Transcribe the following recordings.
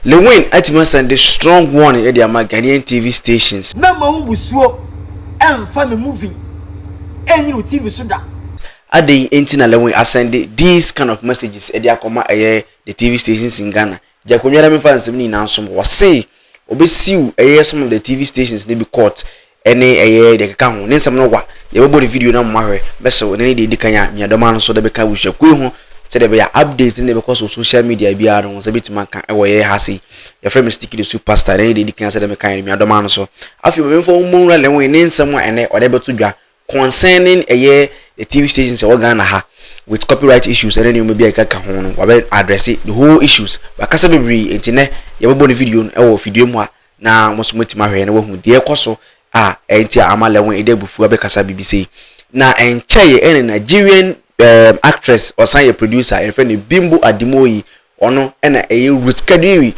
Lewin atumi asan de strong warning de ama Ghanaian TV stations. Mɛmma wo mmusuo ɛmfa me movie ɛnnyini wo TV so da. Adɛn nti na Lewin asan de these kind of messages de akɔma ɛyɛ the TV stations in Ghana? Gya akonnwa na memfa nsɛm no nyinaa nsom hɔ. Wɔse wɔbɛsiw ɛyɛ some of the TV stations no bi court Ɛne, ɛyɛ, deɛ ɛkeka ho, ne nsɛm no wa. Yɛbɛbɔ ne video no ama mo ahwɛ. Mɛhyɛ wo, ɛnnɛ ne deɛ ɛdi kan a nuadɔma no nso de bɛka abusuakuo yi ho sɛdeɛ ɛbɛyɛ a updates ne deɛ ɛbɛkɔ so wɔ social media biara no wo nsa bɛtumi aka wɔ yɛn ha sei. Yɛfrɛ me Sticky the Soup Pastor, ɛnnɛ ne deɛ ɛdi kan a sɛdeɛ mekaeɛ no nuadɔma no nso. Afei ma memfa wo mmɔ nwura Lewin ne nsɛm a ɛnnɛ ɔde bɛto dwa concerning ɛyɛ the TV stations ɛwɔ Ghana ha with copyright issues ɛne nneɛma bi a ɛkeka ho no wabɛ address the whole issues wakasa bebree nti nɛ yɛbɛbɔ ne video no ɛwɔ fidua mu a na mo nso moatumi ahwɛ na wahu deɛ ɛkɔ so a ɛnti a ama Lewin de abufuo abɛkasa biribi sei. Na ɛnkyɛeɛ ɛne Nigerian um, actress ɔsan yɛ producer yɛfrɛ no Bimbo Ademoyi ɔno ɛna ɛyɛ Ruth Kadiri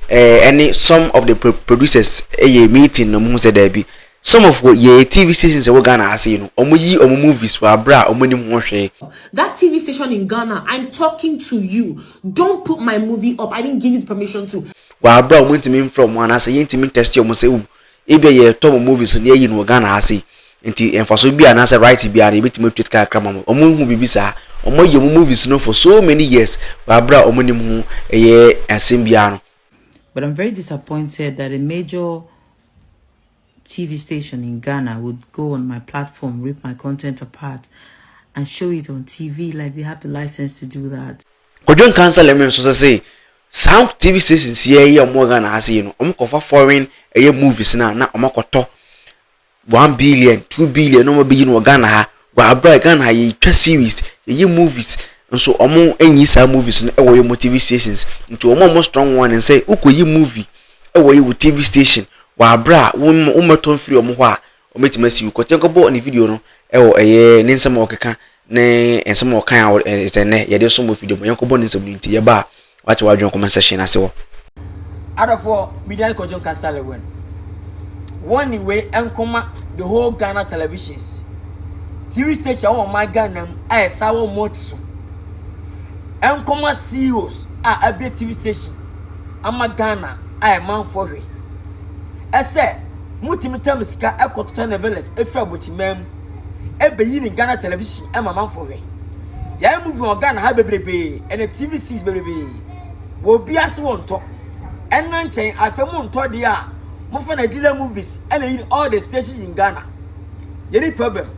ɛne eh, some of the producers ɛyɛ eh, meeting na ɔmo hu sɛ daabi some of yɛ tv stations ɛwɔ ghana ha sei no ɔmo yi ɔmo movies wɔ abere a ɔmo anim ho hwee. that tv station in ghana i'm talking to you don't put my movie up i didn't give you the permission to. wɔ aber a wɔnntumi mmfrɛ hɔn anaasɛ yenntumi nntɛste hɔn sɛ oh ebi a yɛtɔ mo movies no na yɛayi no wɔ Ghana ha sei ntsi mfaso bi a anaasɛ right biara no yebetumi etua sika kakra ma hɔn. Hɔn nnhu biribi saa. Hɔn ayi hɔn movies no for so many years wɔ aber a hɔn nnyim ho yɛ asɛm biara no. But I'm very disappointed that a major TV station in Ghana would go on my platform, rip my content apart, and show it on TV like they have the license to do that. Kwadwo Nkansah-Lemre no nso sese saa TV stations yi a ɛyɛ wɔn wɔ Ghana ha sei no, wɔn kɔfa foreign ɛyɛ movies no a na wɔn akɔtɔ one billion, two billion na wɔn abɛyi no wɔ Ghana ha. Wɔ abira a Ghana ha yɛtwa series, yɛyɛ movies nso wɔn nyi saa movies no wɔ wɔn TV stations. Nti wɔn a wɔn strong one nsɛ wokɔ yi movie ɛwɔ yi wɔ TV station wɔ abira a wɔn wɔn mmɛtɔ mfiri wɔn hɔ a Wɔbɛtumi asi wo. Kɔteɛ kɔbɔ ne video no wɔ ɛyɛ ne nsɛm a ɔkeka ne nsɛm a ɔkan a ɛsɛ nnɛ yɛde som wɔ fidie mu. Yɛnkɔbɔ ne nsɛm no nti yɛba a wakyɛ w'adwene comment section no ase hɔ. Adɔfoɔ Midian Kojo Nkasale Wen wɔn ne wei nkɔma the whole Ghana televisions TV station a wɔn ɔman Ghana mu a ɛsa wɔn mu ɔte so nkɔma CEOs a abie TV station ama Ghana a ɛmanfoɔ hwɛ ɛsɛ Mutumi tam sika kɔ totɔ novelas fi abɔkyimaa mu beyi ne Ghana television ma amanfoɔ hwɛ. Yɛayɛ movie wɔ Ghana ha bebrebee ɛna TV series bebrebee wɔ obiara se wɔntɔ ɛnna nkyɛn afei montɔ deɛ a mofa Nigeria movies ɛna yi all the stations in Ghana. Yɛni problem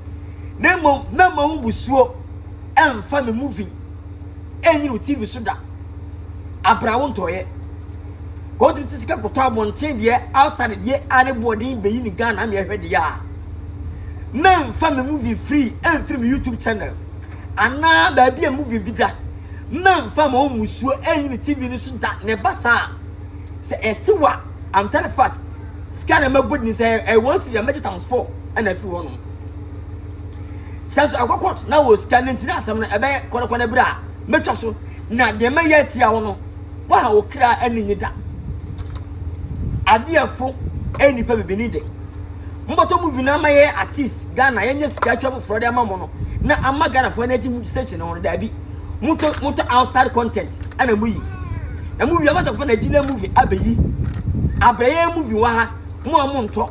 na mmom mɛma ho busuo ɛmfa me movie ɛrenyi no TV so da. Abra wo ntɔeɛ. Kɔ wotumi te sika kɔtɔ abɔnten deɛ outside deɛ a ne boɔden bɛyi ne Ghana ama ɛhwɛ deɛ a. Mɛmfa me movie free ɛmfiri me YouTube channel anaa baabi a movie bi da. Mɛmfa ma wɔn musuo ɛrenyi no TV no so da na ɛba saa sɛ ɛte wa I'm telling fact sika na mɛbɔ din sɛ ɛwɔ nsiri a mɛgye times four ɛna afiri hɔ nom. sika so ɛkɔ court na wɔ sika no nti na asɛm no ɛbɛyɛ kɔnɔkɔnɔ bere a mɛtwa so na deɛ mɛyɛ atia wo no waha wo kra ani nye da adeɛfo ɛyɛ nipa bibini de mobɔtɔ mu vina ama yɛ artist ghana yɛnyɛ sika atwa foforɔ de ama mo no na ama ghanafoɔ no agye mu station no daabi motɔ motɔ outside content ɛna mo yi na mo wie amasafo na gyina movie abɛyi abrɛyɛ movie wɔ ha mo a mo ntɔ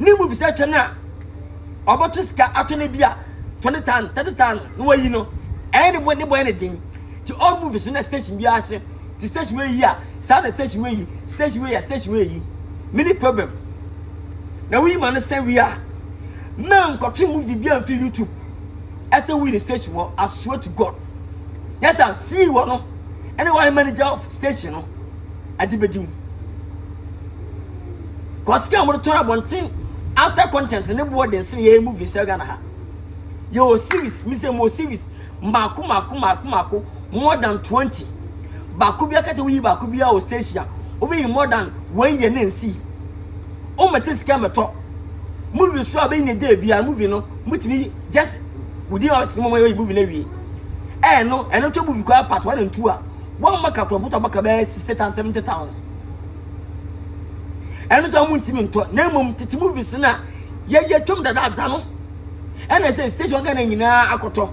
ne mu fisɛ twɛ no a ɔbɛto sika ato no bi a twenty thousand thirty thousand na wayi no ɛyɛ ne bɔ ne bɔ ne den ti all movies na station bi akyerɛ ti station wei yi a saa na station wei yi station wei yɛ station wei yi mini problem na woyi ma no sɛ wi a mmaa nkɔtwe movie bi a mfi youtube ɛsɛ woyi ne station wɔ asoa to god yɛ sɛ sii wɔ no ɛne wɔn manager of station no ade bɛdi mu. Kɔ sika a wɔde tɔn abɔnten outside content ne boɔ den sene yɛyɛ movies wɔ Ghana ha. Yɛwɔ series, mesɛ mewɔ series mmaako mmaako mmaako mmaako more than 20. Baako biara kɛtɛ woyi baako biara wɔ station a wobɛyi more than one year ne nsi. Wommɛtɛ sika mmɛtɔ. Movie so a bɛyi ne day biara movie no motumi just within hours no mɔmɔ yɛ movie no awie. Ɛɛ no ɛno tɔ movie koraa part one and two a wɔn mma kakura motɔ baka bɛyɛ 60,000 70,000. ɛno sɛ wɔn ntumi ntɔ na mmom tete movies na yɛyɛ twam dadaada no ɛna sɛ station ghana nyinaa akɔtɔ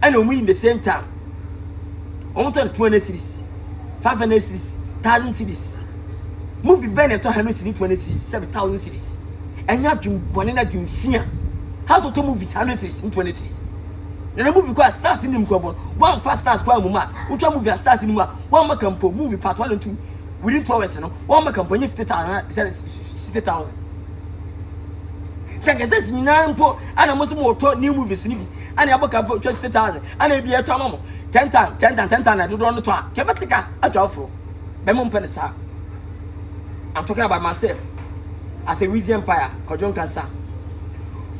ɛna wɔn yi the same time wɔn tɔ no two hundred series five hundred series thousand series movie bɛn na ɛtɔ hundred series two hundred series seven thousand series ɛnyɛ adwene bɔne na adwene fia how to tɔ movies hundred series two hundred series. Na na movie kɔ a stars nim kwan bɔ no, wɔamfa stars kwan mmom a, wotwa movie a stars nim a, wɔamma ka mpo, movie part one and two, within two hours no, wɔamma ka mpo, ɛnyɛ fifty thousand anaa sɛ sixty thousand. Sɛ nka stars nyinaa mpo ana mo sɛ mo wɔtɔ new movies no bi, ana ɛbɔ ka mpo twa sixty thousand, ana ebi ɛtɔ ama mo ten thousand, ten thousand, ten thousand na dodoɔ no tɔ a, kɛ bɛte ka atwa aforo. Bɛ mo mpɛ no saa. I'm talking about myself as a Wizzy Empire, Kwadwo Nkasa.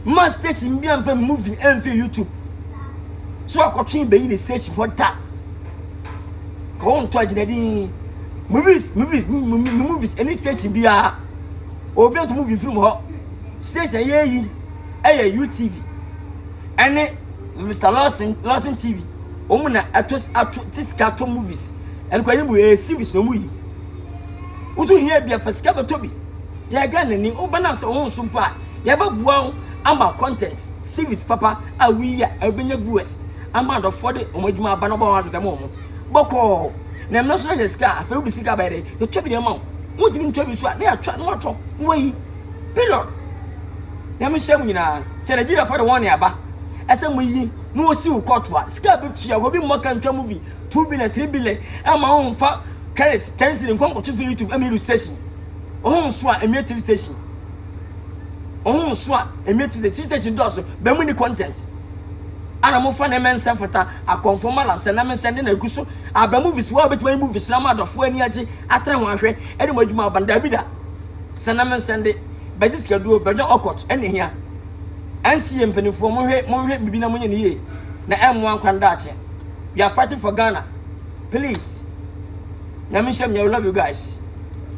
Mma station bi amfa movie amfiri YouTube so akɔtwe bɛyi ne station hɔ da ka wo ntɔ agyina din movies movies movies ɛne station biara obi nto movie mfiri mu hɔ station ɛyɛ yi ɛyɛ UTV ɛne Mr Lawson Lawson TV wɔn na ɛto ato te sika to movies ɛne kɔ yɛ mu ɛyɛ series na wɔn yi wotu hia bi afasika bɛtɔ bi yɛ gana ni wɔn bɛn asɛ wɔn nso mpo a. Yɛbɛboa wo ama content series papa a woyi a ɛbɛnya viewers ama adɔfoɔ de wɔn adwuma aba na wɔbɛma wɔatotɔ ma wɔn bɔkɔɔ. Na ɛno nso na yɛ sika a, afei wode sika bɛyɛ dɛ? Yɛtwa bi de ama wo. Wontumi ntwa bi nso a, na yɛatwa na watɔ na wayi. Period. Nyame nhyira mo nyinaa. Sɛ Nigeriafoɔ de wɔn nne aba sɛ moyi na wɔsi wo kɔɔto a, sika a bɛtua, obi mmɔ ka ntwa movie two billion, three billion ɛma wo mfa credit ten cedi nkɔ nkɔto fi YouTube ɛma iru station. Wo ho nso a, ɛmmue TV station. Wɔn mu nso a ɛmɛ ti sɛ ti station dɔɔso bɛn mu ni content. Ana mo fa na ɛmɛ nsɛm fata akɔnfo ma lasɛ na me nsɛm de na egu so. Abɛ movies wa obetuma yi movies na mo adɔfo ani agye atra ho ahwɛ ɛde mo adwuma aban dabi da. Sɛ na me nsɛm de bɛgye sika duo bɛdwa ɔkɔt ɛna ehia. NCA mpanimfoɔ mo hwɛ mo hwɛ bibi na mo nyɛ ne yie na ɛmmoa nkwa no daakye. We are fighting for Ghana. Please. Nyame nhyɛ mo yɛ we love you guys.